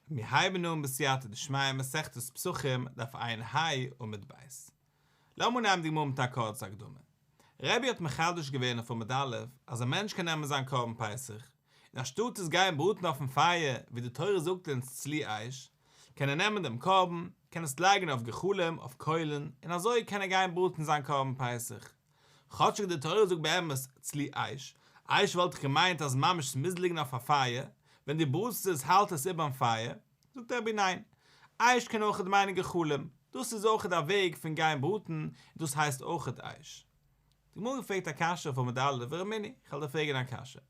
מיר הייבן אן בסייעתא דשמיא מסכת פסחים דף עיין ה עמוד ב'. לאמיר נעמען די גמרא מיט א קורצע הקדמה. רבי האט מחדש געווען אויף עמוד א' אז א מענטש קען נעמען זיין קרבן פסח, און אנשטאט עס גיין בראטן אויפן פייער ווי די תורה זאגט אונז צלי אש, קען ער נעמען דעם קרבן, קען עס לייגן אויף גחלים, אויף קוילן, און אזוי קען ער גיין בראטן זיין קרבן פסח. כאטשיג די תורה זאגט באמת צלי אש, אייש וואלט איך געמיינט אז ממש ס'מוז ליגן אויף א פייער, ווען דו בראטסט עס האלט עס איבערן פייער, זאגט רבי ניין, אייש קען אויכעט מיינען גחלים, דאס איז אויכעט א וועג פון גיין בראטן און דאס הייסט אויכעט אייש. די גמרא פרעגט א קשיא אויף עמוד א', והרי מיני, כ'על דיר פרעגן א קשיא.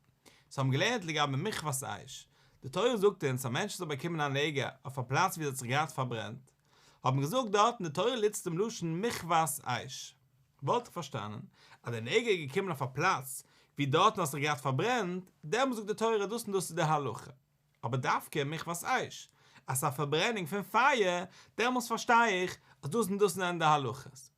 צו האבן געלערנט לגבי מכבת אש, די תורה זאגט אונז א מענטש האט זיך באקומען א נגע אויף א פלאץ ווי עס האט זיך געהאט פארברענט, האט מען געזאגט דארטן די תורה לץ צום לשון מכבש אש, וואלט איך פארשטאנען אז די נגע איז געקומען אויף א פלאץ ווי דארטן האט זיך געהאט פארברענט, דעמאלס זאגט די תורה דאס און דאס איז די הלכה, אבער דווקא מכבש אש אז ס'איז א פארברענונג פון פייער, דעמאלס פארשטיי איך אז דאס און דאס זענען די הלכות.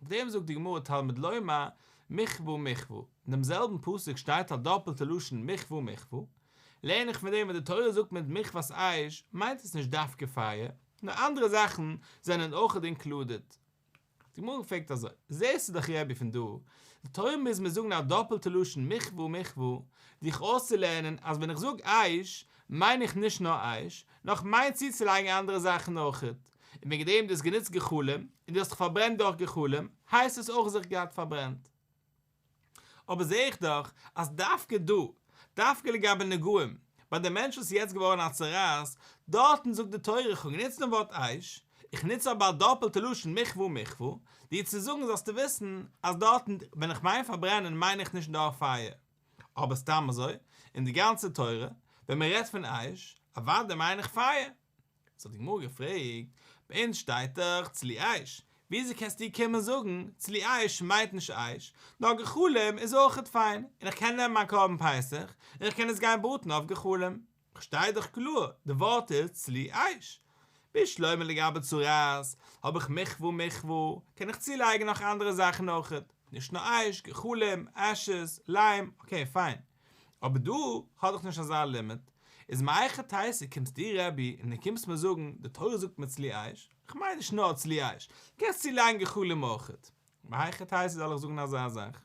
אויף דעם זאגט די גמרא תלמוד לומר מכווא מכווא, אין דעם זעלבן פסוק שטייט א דאפלטע לשון מכווא מכווא, לערן איך פון דעם ווען די תורה זאגט מיט מכוות אש מיינט עס נישט דווקא פייער, נאר אנדערע זאכן זענען אויך אינקלודעד. די גמרא פרעגט אזוי, זעסטו דאך רבי פון דא, די תורה מוז מיר זאגן א דאפלטע לשון מכווא מכווא, דיך אויסצולערנען אז ווען איך זאג אש מיין איך נישט נאר אש, נאר איך מיין צוצולייגן אנדערע זאכן אויך. און וועגן דעם דו האסט גענוצט גחלים און דו האסט דיך פארברענט דורך גחלים, הייסט עס אויך זיך געהאט פארברענט. אבער זע איך דאך אז דווקא דא, דווקא לגבי נגעים, ביי די מענטש וואס איז יעצט געווארן א צרעת, דארטן זאגט די תורה, איך האב גענוצט דעם ווארט אייש, איך נוץ אבער א דאפלטע לשון מכווה ומכפו, דיר צו זאגן זאלסטו וויסן אז דארטן ווען איך מיין פארברענען מיין איך נישט דורך פייער, אבער סתם אזוי, אין די גאנצע תורה, ווען מען רעדט פון אייש, אוודאי מיין איך פייער. האט זיך די גמרא געפרעגט, ביי אונז שטייט דאך צלי אש, וויאזוי קענסטו קומען זאגן צלי אש מיינט נישט אש, נאר גחלים איז אויכעט פיין, און איך קען נעמען מיין קרבן פסח, און איך קען עס גיין בראטן אויף גחלים? כ'שטיי דאך קלאר, די ווארט איז צלי אש. ביז שלמה לגבי צרעת, האב איך מחווה מחווה, קען איך צולייגן נאך אנדערע זאכן אויכעט, נישט נאר אש, גחלים, אשז, ליים, אקעי פיין. אבער דא האט דאך נישט אזא לימיט, איז מיר אייך טייסע קומסט דו רבי און דו קומסט מיר זאגן די תורה זאגט מיר צלי אייש, איך מיין נישט נאר צלי אייש, קענסט צו לייגן גחלים אויכעט, מהיכי תיתי זאל איך זאגן אזא זאך?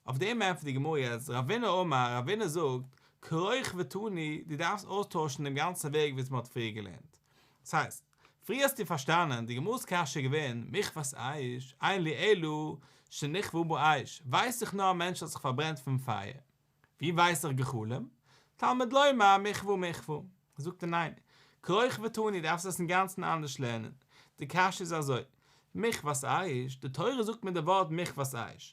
אויף דעם ענטפערט די גמרא יעצט רבינא אמר רבינא זאגט קרוך ותני דו דארפסט אויסטוישן דעם גאנצן וועג וויאזוי מען האט פריער געלערנט, ס'הייסט. פריער האסטו פארשטאנען די גמרא'ס קשיא געווען מיך וואס אייך אין לי אלא שנכוו בו אש ווייס איך נאר א מענטש האט זיך פארברענט פון פייער ווי ווייס איך גחלים תלמוד לומר מכוו מכוו זאגט ער ניין כרוך ותוני דארפסט עס אינגאנצן אנדערש לערנען די קשיא איז אזוי מיך ווייס איך, די תורה זאגט מיט די ווארט מיך ווייס איך,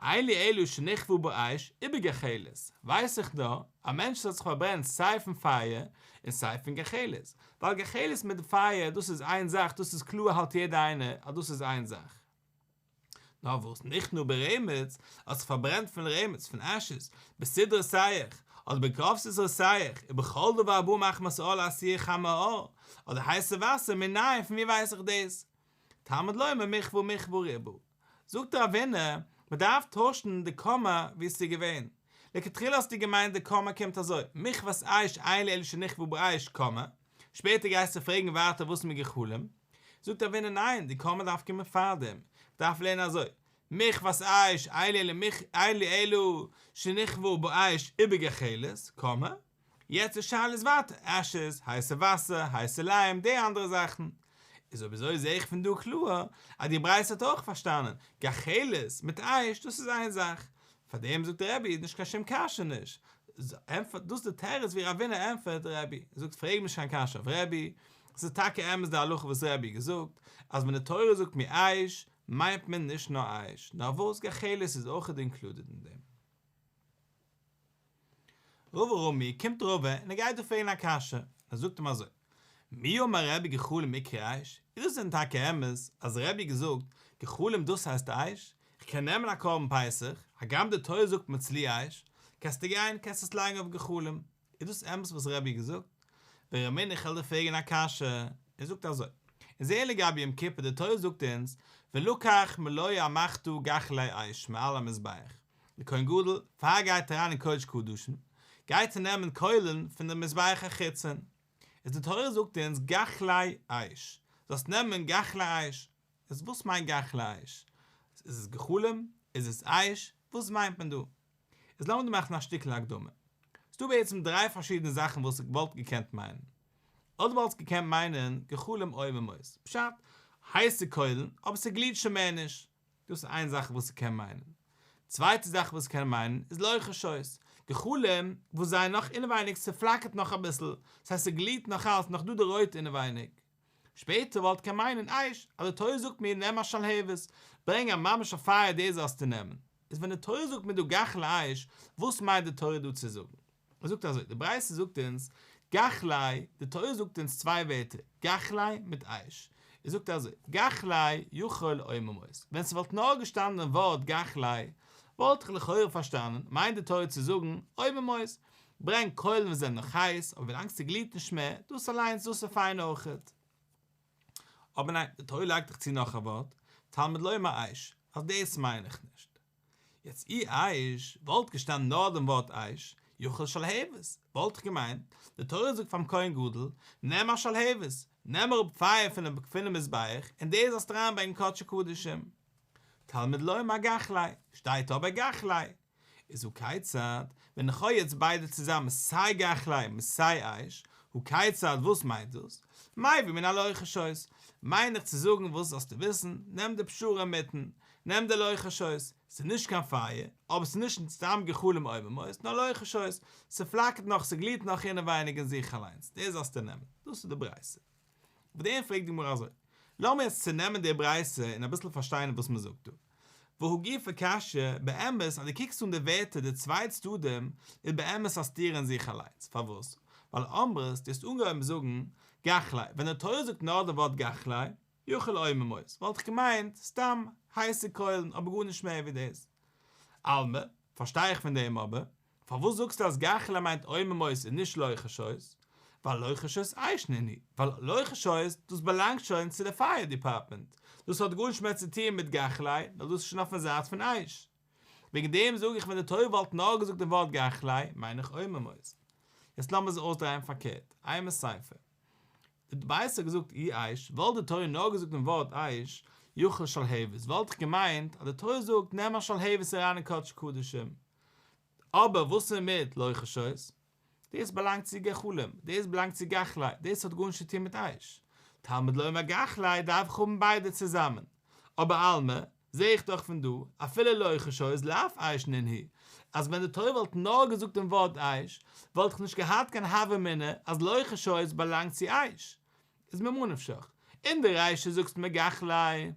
אלי אלו שנכוו באש, איבער גחלת, ווייס איך נאר, א מענטש זאל זיך פארברענען סיי פון פייער, און סיי פון גחלת, ווייל גחלת מיט פייער דאס איז איין זאך, דאס איז קלאר האלט יעדער איינער אז דאס איז איין זאך. נאר וואס נכנעו ברעמעץ, האט זיך פארברענט פון רעמעץ, פון אשת, בסדרה סייעך, אדער בקרוב סדרה סייעך, ובכל דבר בא מחמת עול עשי' חמא א, אדער הייסע וואסער מנין פון ווי ווייס איך דאס? תלמוד לומר מכבו מכבו ריבו. זאגט דער אבינו, מען דארף טוישן די קאמע ווי עס איז געווען. לכתחילה האסטו געמיינט די קאמע קומט אזוי, מכבת אש אין לאלו שנכבו באש, קאמע, שפעטער גייסטו פרעגן ווייטער וואס מיט גחלים? זאגט דער אבינו ניין, די קאמע דארף קומען פארדעם, מען דארף לערנען אזוי, מכבת אש אין לאלו שנכבו באש איבער גחלת, קאמע, יעצט די שאלה איז ווייטער עשש'ס, הייסע וואסער, הייסע ליים, די אנדערע זאכן. איז אויב אזוי זעה איך פון דא קלאר אז די ברייתא האט אויך פארשטאנען גחלת מיט אייש דאס איז איין זאך. פאר דעם זאגט דער רבי איז נישט קיין שום קשיא נישט ענטפערט דאס די תירוץ ווי רבינא ענטפערט די רבי זאגט פרעג נישט קיין קשיא אויף רבי ס'איז טאקע אמת די הלכה וואס רבי געזאגט אז ווען די תורה זאגט מי אייש מיינט מען נישט נאר אייש נאר וואס גחלת איז אויכעט אינקלודעט אין דעם. רוב ארומי קומט רוב און ער גייט דיר פרעגן א קשיא, ער זאגט אים אזוי, מי אמר רעבי גחלים עיקר עייש, איז דאס דען טאקע אמת אז רעבי האט געזאגט גחלים דאס הייסט עייש, איך קען נעמען א קרבן פסח, הגם די תורה זאגט מצלי' עייש, קענסטו גיין קענסט עס לייגן אויף גחלים. איז דאס אמת וואס רבי האט געזאגט? ווען רבי מענדל איך העל דיר פרעגן א קשיא, ער זאגט אזוי, און זעה לגבי יום כיפור די תורה זאגט אונז ולקח מלוה המחטו גחלי אש מעל המזבח, דער כהן גדול פאר ער גייט אריין אין קודש קדשים גייט ער נעמען קוילן פון דער מזבח החיצון, איז די תורה זאגט אונז גחלי אש, זאלסט נעמען גחלי אש, איז וואס מיינט גחלי אש? איז עס גחלים? איז עס אש? וואס מיינט מען דא? איז לאמיר דא מאכן א שטיקל הקדמה. ס'דא בעצם דריי פארשידענע זאכן וואס איך וואלט געקענט מיינען. אדער וואלסט געקענט מיינען גחלים אויבן אויס. פשט, הייסע קוילן, אבער ס'גליעט שוין מער נישט. דאס איז איין זאך וואס ס'קען מיינען. צווייטע זאך וואס ס'קען מיינען איז לויכע שויס. גחלים וואס זייער נאך אינעווייניג, ס'פלאקערט נאך אביסל. ס'הייסט ס'גליעט נאכאלץ נאך דא די רויט אינעווייניג. שפעטער וואלט קען מיינען אייש אז די תורה זאגט מיר נעם א שלהבת, ברענג א ממש א פייער די זאלסטו נעמען, איז ווען די תורה זאגט מיר דא גח לאייש וואס מיינט די תורה דא צו זאגן? ער זאגט אזוי, די ברייתא זאגט אונז גח לאי, די תורה זאגט אונז צוויי ווערטער גח לאי מיט אייש, ער זאגט אזוי, גח לאי יכול אוי ממות, ווען ס'וואלט נאר געשטאנען דעם ווארט גח לאי וואלט איך לכאורה פארשטאנען מיינט די תורה צו זאגן אוי ממות, ברענג קוילן וואס זענען נאך הייס, אבער ווילאנג ס'גליעט נישט מער, דאס אליינס, דאס איז פיין אויכעט. אבער ניין, די תורה לייגט דאך צו נאך א ווארט, תלמוד לומר אש, אז דאס מיין איך נישט. יעצט אי אש וואלט געשטאנען נאר דעם ווארט אש, יאכל שלהבת, וואלט איך געמיינט, די תורה זאגט פאר'ן כהן גדול, נעם א שלהבת, נעם אראפ פייער פונעם פונעם מזבח, און דאס זאלסטו אריינברענגען קדשי קדשים. תלמוד לומר גחלי, שטייט אבער גחלי, איז הכיצד, ווען איך האב יעצט ביידע צוזאמען סיי גחלים און סיי אייש, הכיצד וואס מיינט דאס? מאי ווי מן הלוחש הויז, מיין איך צו זאגן וואס זאלסטו וויסן, נעם די פשרה אינמיטן, נעם די לוחש הויז, ס'איז נישט קיין פייער, אבער ס'איז נישט סתם גחלים עוממות, נאר לוחש הויז, ס'פלאקערט נאך, ס'גליעט נאך אינעווייניג אין זיך אליינס, דאס זאלסטו נעמען, דאס איז די ברייתא. אויף דעם פרעגט די גמרא אזוי, לאמיר יעצט צונעמען די ברייתא און אביסל פארשטיין וואס מען זאגט דא. והא גופא קשיא, באמת אז דו קוקסט אן די ווערטער די צוויי צדדים איז באמת א סתירה אין זיך אליינס, פארוואס? ווייל אמרת, דו האסט אנגעהויבן זאגן, גחלי, ווען די תורה זאגט נאר די ווארט גחלי, יאכל עור ממות, וואלט איך געמיינט, סתם, הייסע קוילן, אבער גארנישט מער ווי דאס. עלמא, פארשטיי איך פון דעם אבער, פארוואס זאגסטו אז גחלה מיינט עוממות און נישט לוחשות? ווייל לוחשות אייש נהני, ווייל לוחשות דאס באלאנגט שוין צו די פייער דיפארטמענט, דאס האט גארנישט מער צו טוען מיט גחלי, ווייל דאס איז שוין אויפן זייט פון אייש. וועגן דעם זאג איך ווען די תורה וואלט נאר געזאגט דעם ווארט גחלי, מיין איך עוממות. יעצט לאמיר עס אויסדרייען פארקערט, איי מסייפער. די ווייסע האט געזאגט אי אייש, וואלט די תורה נאר געזאגט דעם ווארט אייש, יאכל שלהבת, וואלט איך געמיינט אז די תורה זאגט נעם א שלהבת אריין אין קדש קדשים, אבער וואס איז מיט לוחשות? דאס באלאנגט צו גחלים, דאס באלאנגט צו גחלי, דאס האט גארנישט צו טון מיט אייש. תלמוד לומר גחלי דארף איך האבן ביידע צוזאמען. אבער עלמא, זע איך דאך פון דא, אפילו לוחשות לאף אייש ננהי, אז ווען די תורה וואלט נאר געזאגט דעם ווארט אייש, וואלט איך נישט געהאט קיין הוה אמינא אז לוחשות באלאנגט צו אייש. איז ממה נפשך, אין די רישא זאגסט מיר גחלי.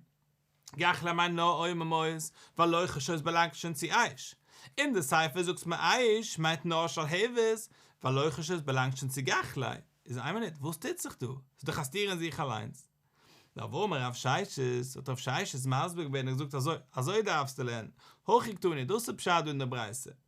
גאך למאי נא אוי ממאוס ולא חשוב סבאלאנגט שוין צו אייש אין די ספר זאגסט מיר אייש מיינט נאר שלהבת ולא חשוב סבאלאנגט שוין צו גאך לע איז איין מינוט וואס טוט זיך דא סאיז דאך א סתירה אין זיך אליינס נא וואו אמר רב ששת האט רב ששת מסביר געווען און געזאגט אזוי אזוי דארפסטו לערנען הכי קטני דאס איז פשט דא אין די ברייתא.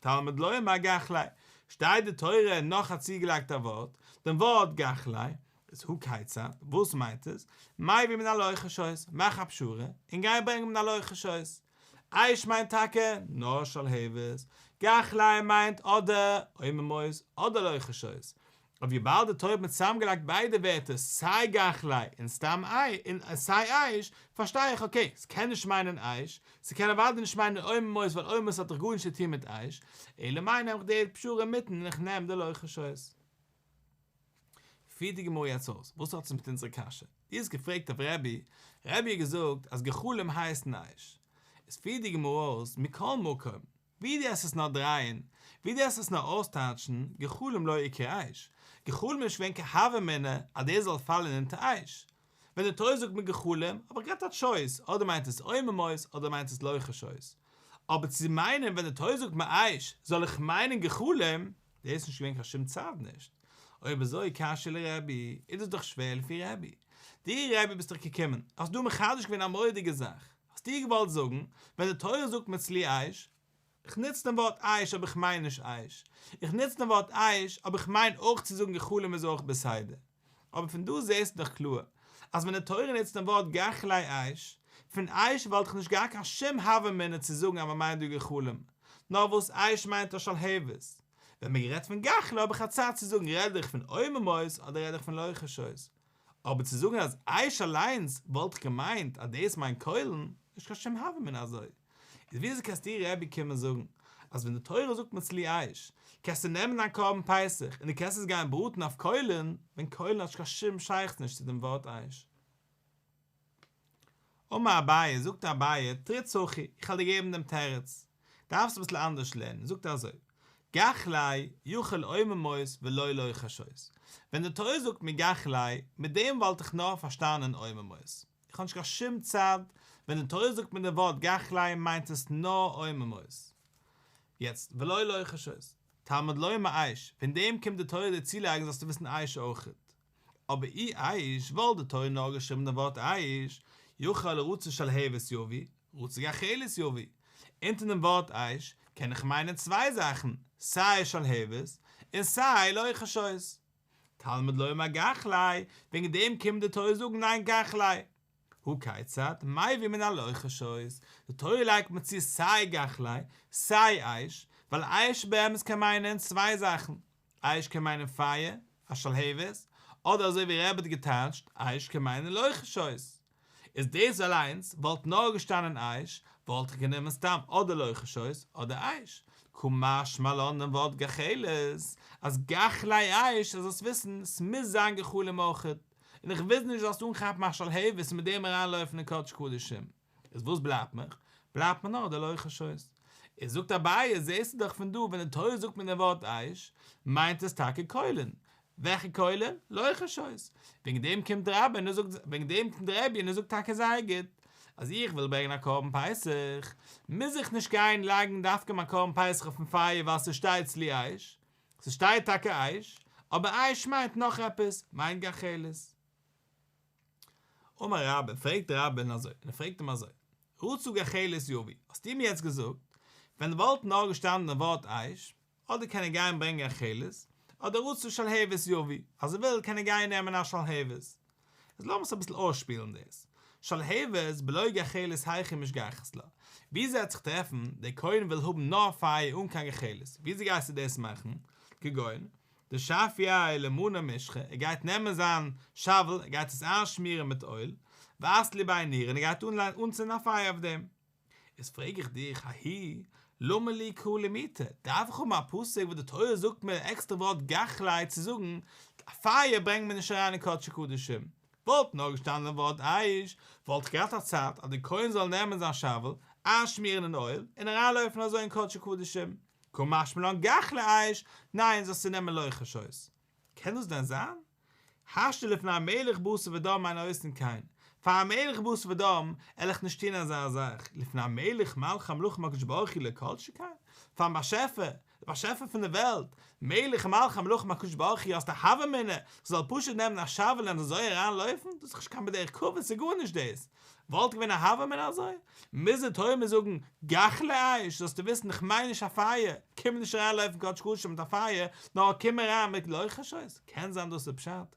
תלמוד לוי אמר גח ליה, שטייט די תורה נאך א צוגעלייגטע ווארט, דעם ווארט גח ליה, איז הוא כיצד, וואס מיינט עס, מאי ווי מנהל אורחות שויס, מאך א פשרה, און גיי ברענג מנהל אורחות שויס. עייש מיינט טאקע נאר שלהבת, גח ליה מיינט אדער עוממות אדער אורחות שויס, און וויבאלד די טויבן האט צוזאמגעלייגט ביידע ווערטער סיי גחלי און סתם און סיי אייש, פארשטיי איך אקעי, ס'קען נישט מיינען אייש, ס'קען אוודאי נישט מיינען עומר מויז ווייל עומר מויז האט דאך גארנישט צו טון מיט אייש, אלא מאי נעם איך די פשרה אינמיטן און איך נעם די לא חשש. פירט די גמרא יעצט אויס וואס האט עס מיט אונזערע קשיא, דו האסט געפרעגט אויף רבי, רבי האט געזאגט אז גחלים הייסן אייש, איז פירט די גמרא אויס מכל מקום ווי דו האסט עס נאר דרייען, ווי דו האסט עס נאר אויסטייטשן, גחלים לא יקר אייש. גחלים איז שווענקע הוה אמינא אז דאס זאל פאלן אונטער אייש. ווען די תורה זאגט מיט גחלים, האב איך געהאט א טשויס, אדער מיינט עס עוממות אדער מיינט עס לוחשות. אבער צו מיינען ווען די תורה זאגט מיט אייש, זאל איך מיינען גחלים, דאס איז נישט געווען קיין שום צד נישט. אויב אזוי קשיא לרבי, איז דאס דאך שווער לפי רבי. דו רבי ביסט דאך געקומען, האסט דא מחדש געווען א מורא'דיגע זאך. האסט איר געוואלט זאגן, ווען די תורה זאגט מצלי אש, איך נוץ דעם ווארט אש אבער איך מיין נישט אש, איך נוץ דעם ווארט אש אבער איך מיין אויך צו זאגן גחלים איז אויך בסדר, אבער פון דא זעהסטו דאך קלאר אז ווען די תורה נוצט דעם ווארט גחלי אש, פון אש וואלט איך נישט געהאט קיין שום הוה אמינא צו זאגן אז מען מיינט דא גחלים, נאר וואס אש מיינט א שלהבת. ווען מען רעדט פון גחלי האב איך א צד צו זאגן רעד איך פון עוממות אדער רעד איך פון לוחשות. אבער צו זאגן אז איך אליינס וואלט איך געמיינט אז דאס מיינט קוילן, נישט קיין שום הווא מינא אזוי. איז וויאזוי קענסטו איר רבי קומען זאגן אז ווען די תורה זאגט מצלי אש קענסטו נעמען דיין קרבן פסח און די קענסט עס גיין בראטן אויף קוילן ווען קוילן האט נישט קיין שום שייכות נישט צו דעם ווארט אש? אמר אביי, זאגט אביי, תריץ הכי, איך וועל דיר געבן דעם תירוץ, דארפסט אביסל אנדערש לערנען, זאגט ער אזוי, גח ליה, יאכל עומר מות ולא ליה חשות, ווען די תורה זאגט מיר גח ליה, מיט דעם וואלט איך נאר פארשטאנען עומר מות, איך האב נישט קיין שום צד, ווען די תורה זאגט מיר די ווארט גח ליה מיינט עס נאר עומר מות. יעצט, ולא ליה חשות, תלמוד לומר עייש, פון דעם קומט די תורה דיר צולייגן זאלסטו וויסן עייש אויכעט, אבער אי איש ווייל די תורה נאר געשריבן דעם ווארט איש, יוכל לרצות שלהבת יביא, רצה גחלת יביא, אונטער דעם ווארט איש קען איך מיינען צוויי זאכן, סיי שלהבת און סיי לא יחשות. תלמוד לומר גחלי, וועגן דעם קומט די תורה זאגן ניין גחלי. הוא כיצד, מאי ווי מן הלא יחשות, די תורה לייגט מען צו סיי גחלי, סיי איש, ווייל איש באמת קען מיינען צוויי זאכן, אייש קען מיינען פייער, א שלהבת, אדער אזוי ווי רעב האט געטייטשט, אייש קען מיינען לוחות האות. איז דאס אליינס וואלט נאר געשטאנען אייש, וואלט איך גענומען סתם אדער לוחות האות אדער אייש. כא משמע לן דעם ווארט גחלת, אז גח ליי' אייש, אז זאלסט וויסן, ס'מוז זיין גחלים אויכעט, און איך וויל נישט זאלסט אנכאפן א שלהבת און מיט דעם אריינלויפן אין קודש קדשים. איז וואס בלייבט מיך? בלייבט מיר נאר די לא יחשוש. איז זאגט אביי, זעסטו דאך פון דא ווען די תורה זאגט מיט דעם ווארט איש, מיינט עס טאקע קוילען. וועלכע קוילען? לא יחשוש. וועגן דעם קומט די רבי און ער זאגט, וועגן דעם קומט די רבי און ער זאגט טאקע זייער גוט, אז איך וויל ברענגען א קרבן פסח, מוז איך נישט גיין לייגן דווקא מיין קרבן פסח אויפן פייער ווייל ס'שטייט צלי איש. ס'שטייט טאקע איש, אבער איש מיינט נאך עפעס, מיינט גחלת. אמר רבא, פרעגט רבין אזוי, און ער פרעגט אים אזוי, רצו גחלת יביא, האסטו מיר יעצט געזאגט, ווען וואלט נאר געשטאנען דעם ווארט אייש, אדער קען ער גיין ברענגען גחלת, אדער רצו שלהבת יביא, אז ער וויל קען ער גיין נעמען א שלהבת. איז לאמער'ס אביסל אויסשפילן דאס, שלהבת בלא גחלת היכי משגחת לה, וואו ס'וועט זיך טרעפן, דער כהן וויל האבן נאר פייער אן קיין גחלת, וויאזוי גייסטו דאס מאכן, כגון, די שפי' למנה משחה, ער גייט נעמען זיין שאוול, ער גייט עס איינשמירן מיט אויל, וואס לי ביי ניר, און ער גייט אנלייגן אנצינדן א פייער אויף דעם. איז פרעג איך דיך, האי למה לי קרא למיתה, דארף איך האבן א פסוק וואס די תורה זאגט מיר די עקסטערע ווארט גכלי' צו זאגן, א פייער ברענגט מען נישט אריין אין קדשי קדשים. וואלט נאר געשטאנען ווארט אייש, וואלט איך געהאט א צד אז די כהן זאל נעמען זיין שאוול, איינשמירן אין אויל, און אריינלויפן אזוי אין קדשי קדשים. כא משמע לן גח לאיש, ניין, זאלסטו נעמען לא חשות. קען דאס דען זיין? השתא לפני המלך בשר ודם מיינט אויסן קיין, פאר א מלך בשר ודם על איך נישט טון אזא זאך, לפני המלך מלך המלכים הקדוש ברוך הוא לא כל שכן פארן באשעפער, דער באשעפער פון די וועלט, מלך מלכי המלכים הקדוש ברוך הוא האסט א הווא אמינא, כ'זאל פשוט נעמען א שאוועל און אזוי אריין לויפן? דאס איז נישט קיין בדרך כבוד, ס'איז גארנישט דאס. וואלט געווען א הוה אמינא אזוי? מוז די תורה מיר זאגן גח לאש, זאלסטו וויסן איך מיין נישט א פייער, קום נישט אריין לויפן קודש קדשים מיט א פייער, נאר קום אריין מיט לויכערשעס, קען זיין דאס איז פשט?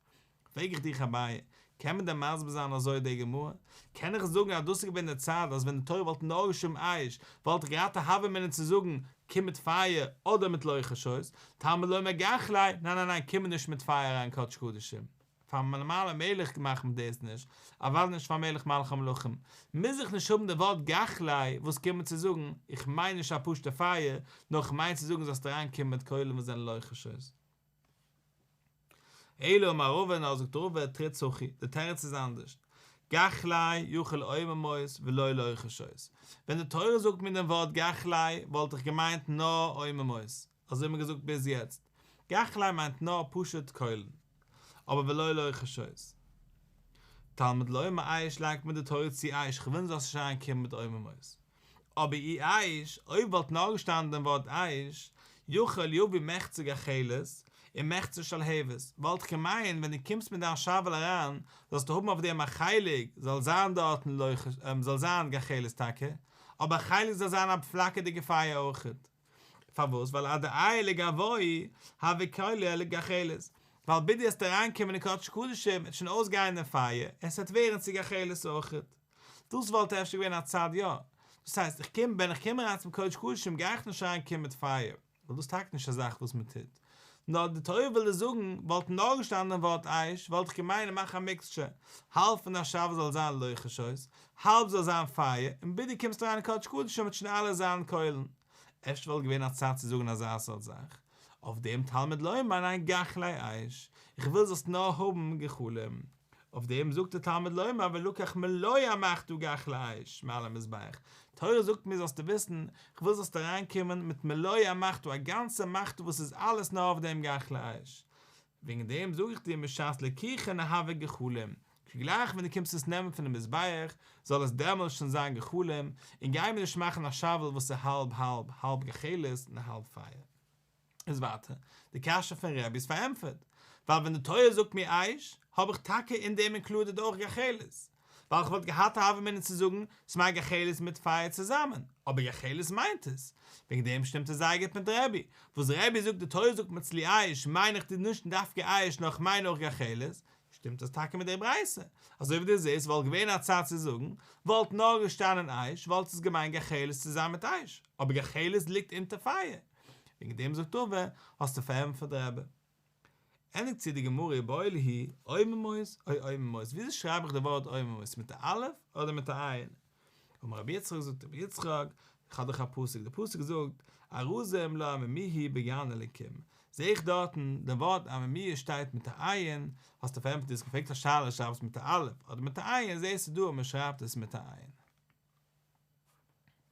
פרעג איך דיך אביי, קען מען דען מסביר זיין אזוי די גמרא? קען איך זאגן אז דאס איז געווען די צד אז ווען די תורה וואלט נאר געשריבן אש וואלט איך געהאט א הוה אמינא צו זאגן קום מיט פייער אדער מיט לויכערשעס, תלמוד לומר גח לאש, ניין ניין ניין קום מיר נישט מיט פייער אריין קודש קדשים. פאר מלמעלה מלך גמח מען דאס נישט, אוודאי נישט פאר מלך מלכי המלכים, מוז איך נישט האבן די ווארט גחלי, וואס קומט צו זאגן, איך מיין נישט א פשוטע פייער, נאר איך מיין צו זאגן זאלסט אריין קומען מיט כלים וואס זענען לוחשות. אלא אמר ראובן, נאר זאגט ראובן, תראה צחי, די תירוץ איז אנדערשט, גחלי יאכל עוממות ולא לוחשות, ווען די תורה זאגט מיר דעם ווארט גחלי וואלט איך געמיינט נאר עוממות, אזוי האט מען געזאגט ביז יעצט. גחליי מיינט נאר פשוט קוילן. אבער ולא לוחשות. תלמוד לומר אייש לייגט מען די תורה צו אייש כ'וויל נישט זאלסט נישט אריין קומען מיט עוממות. אבער אי אייש, אויב וואלט נאר געשטאנען דעם ווארט אייש, יאכל יביא מחצה גחלת און מחצה שלהבת, וואלט איך געמיינט ווען דו קומסט מיט דיין שאוועל אריין זאלסטו האבן אויף דעם א חלק זאל זיין דארטן לוחש זאל זיין גחלת טאקע, אבער א חלק זאל זיין א פלאקערדיגע פייער אויכעט. פארוואס? ווייל עד דעי' ל גבוהי ה וקולי ה לגחלת, ווייל בידי עס וועט אריינקומען אין קדש קדשים וועט שוין אויסגיין די פייער און עס וועט ווערן צו גחלת אויכעט, דאס וואלט אפשר געווען א צד יא, דאס הייסט איך קום ווען איך קום אריין צום קדש קדשים גיי איך נישט אריין קומען מיט פייער, ווייל דאס איז טאקע נישט א זאך וואס מען טוט. נאר די תורה וויל עס זאגן, וואלט נאר געשטאנען ווארט אייש, וואלט איך געמיינט מאך א מיקסטשער, האלב פון די השבה זאל זיין לוחשות, האלב זאל זיין פייער, און בידו קומסט אריין אין קודש קדשים מיט שוין אלע זיילן קוילן. אפשר וואלט געווען א צד צו זאגן אזא סארט זאך. אויף דעם תלמוד לומר ניין גחלי אייש, איך וויל זאלסט נאר האבן גחלים. אויף דעם זאגט דער תלמוד לומר ולקח מלוה המעכת וגח לאש מעל המזבח, תורה זאגט מיר זאלסטו וויסן, כ'וויל זאלסטו אריינקומען מיט מלוה המעכת א גאנצע מעכת וואס איז אלעס נאר אויף דעם גח לאש, וועגן דעם זאג איך דיר משעת לקיחין אהבה גחלים, כגלייך ווען דו קומסט עס נעמען פונעם מזבח זאל עס דעמאלס שוין זיין גחלים, און גיי מיר נישט מאכן א שאוועל וואס איז האלב האלב, האלב גחלת און האלב פייער. איז ווייטער די קשיא פון רבי'ס פארענטפערט, ווייל ווען די תורה זאגט מיר עייש, האב איך טאקע אין דעם אינקלודעד אויך גחלת, ווייל כ'וואלט געהאט א הווא אמינא צו זאגן ס'מיינט גחלת מיט פייער צוזאמען, אבער גחלת מיינט עס, וועגן דעם שטימט עס זייער גוט מיט רבי, וואס רבי זאגט די תורה זאגט מצלי עייש מיין איך די נישט דווקא עייש נאר כ'מיין אויך גחלת, שטימט עס טאקע מיט דער ברייתא, אזוי ווי דו זעסט וואלט געווען א צד צו זאגן, וואלט נאר געשטאנען עייש וואלט עס געמיינט גחלת צוזאמען מיט עייש, אבער גחלת ליגט אונטער פייער. וועגן דעם זאגט אויף ווער האסטו פארענטפערט די רבי ענדיגט זי די גמרא איבער אויל הי עוממות אוי עוממות וויאזוי שרייב איך די ווארט עוממות מיט א אלף אדער מיט א עין אמר רבי יצחק זאגט רבי יצחק כ'האב דאך א פסוק די פסוק זאגט ארזים לא עממי היא בגן אלקים זעה איך דארטן די ווארט עממי שטייט מיט א עין האסטו פארענטפערט די האסט געפרעגט א שאלה שרייב עס מיט א אלף אדער מיט א עין זעסטו דא אז מ'שרייבט עס מיט א עין.